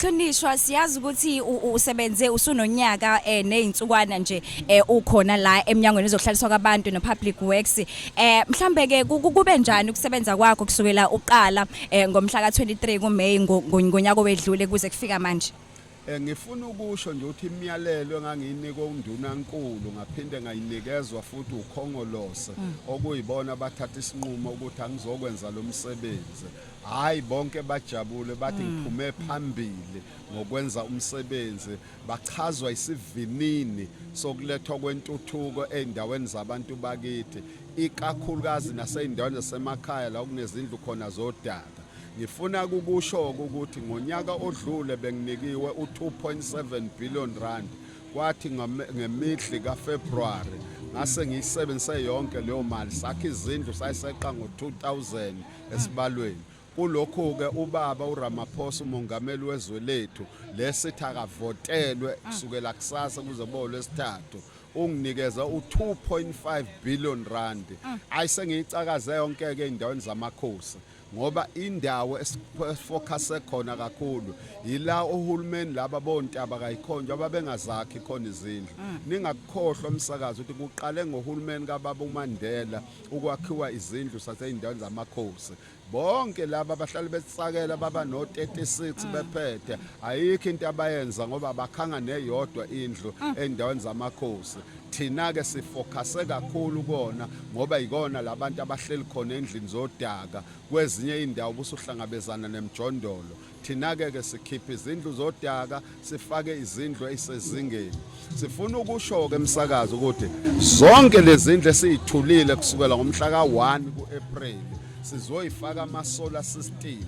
Qinishwa siyazi ukuthi usebenze usunonyaka eh nezinsukwana nje eh ukhona la emnyangweni ezohlaliswa kwabantu no public works eh mhlambe ke kube njani ukusebenza kwakho kusukela uqala eh ngomhla ka23 kuMay ngonyaka wedlule kuze kufika manje Eh ngifuna ukusho nje ukuthi imiyalelo engangiyinikwe unduna nkulu ngaphinde ngayinikezwa futhi ukhongolose mm. okuyibona bathatha isinqumo ukuthi angizokwenza lo msebenzi Hayi bonke bajabule bathi mm. ngiphume phambili ngokwenza umsebenzi bachazwa isivinini sokulethwa kwentuthuko ezindaweni zabantu bakithi ikakhulukazi nasezindaweni zasemakhaya la kunezindlu khona zodaka ngifuna kukusho ukuthi ngonyaka odlule benginikiwe u2.7 billion rand kwathi ngemidli kaFebruary ngase ngiyisebenzise yonke leyo mali sakhe izindlu sayiseqa ngo2000 esibalweni kulokhu-ke ubaba uramaphosa umongameli wezwe lethu lesithi akavotelwe kusukela kusasa kuze kuba olwesithathu unginikeza u-2.5 billion rand ayi sengiyicakaze yonke-ke ey'ndaweni zamakhosi ngoba indawo esifocuse khona kakhulu yila ohulumeni laba bontaba kayikhonjwa ababengazakhi khona izindlu ningakukhohlwa umsakazi ukuthi kuqale ngohulumeni kababa uMandela ukwakhiwa izindlu sasey'ndaweni zamakhosi bonke laba abahlale besisakela baba no-36 mm. bephethe ayikho into abayenza ngoba bakhanga neyodwa indlu mm. endaweni zamakhosi thina-ke sifokase kakhulu kona ngoba yikona labantu abahleli khona endlini zodaka kwezinye iy'ndawo busuhlangabezana nemjondolo Thina-ke ke sikhipha izindlu zodaka sifake izindlu ezisezingeni. Sifuna ukusho-ke emsakazo ukuthi zonke lezi zindlu esiyithulile kusukela ngomhla ka-1 ku-April sizoyifaka ama-solar system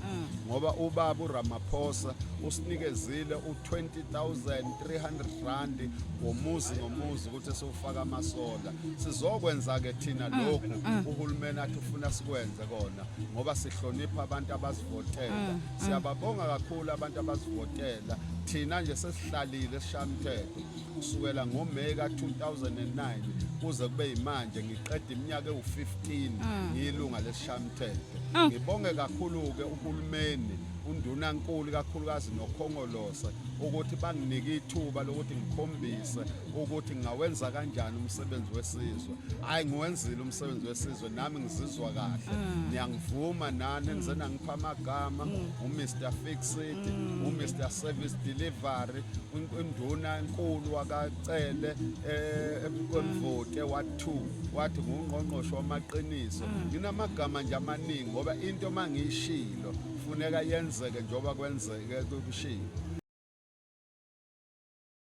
ngoba ubaba uRamaphosa usinikezile u20300 rand ngomuzi ngomuzi ukuthi siwufaka amasola sizokwenza ke thina lokhu uhulumeni athi ufuna sikwenze kona ngoba sihlonipha abantu abasivotela mm, mm. siyababonga kakhulu abantu abasivotela thina nje sesihlalile sishamthetho kusukela ngoMay ka-2009 kuze kube yimanje ngiqeda iminyaka ewu-15 mm. ngiyilunga lesishamthetho mm. ngibonge kakhulu-ke uhulumeni undunankulu kakhulukazi nokhongolose ukuthi banginike ithuba lokuthi ngikhombise ukuthi ngawenza kanjani umsebenzi wesizwe hhayi ngiwenzile umsebenzi wesizwe So nami ngizizwa kahle mm. niyangivuma nani engizena ngipha amagama mm. uMr Fix It mm. uMr Service Delivery induna enkulu wakacele eh, ebukonvote wa2 wathi ngungqongqosho wamaqiniso nginamagama nje amaningi ngoba into mangiyishilo kufuneka yenzeke njengoba kwenzeke kushiwo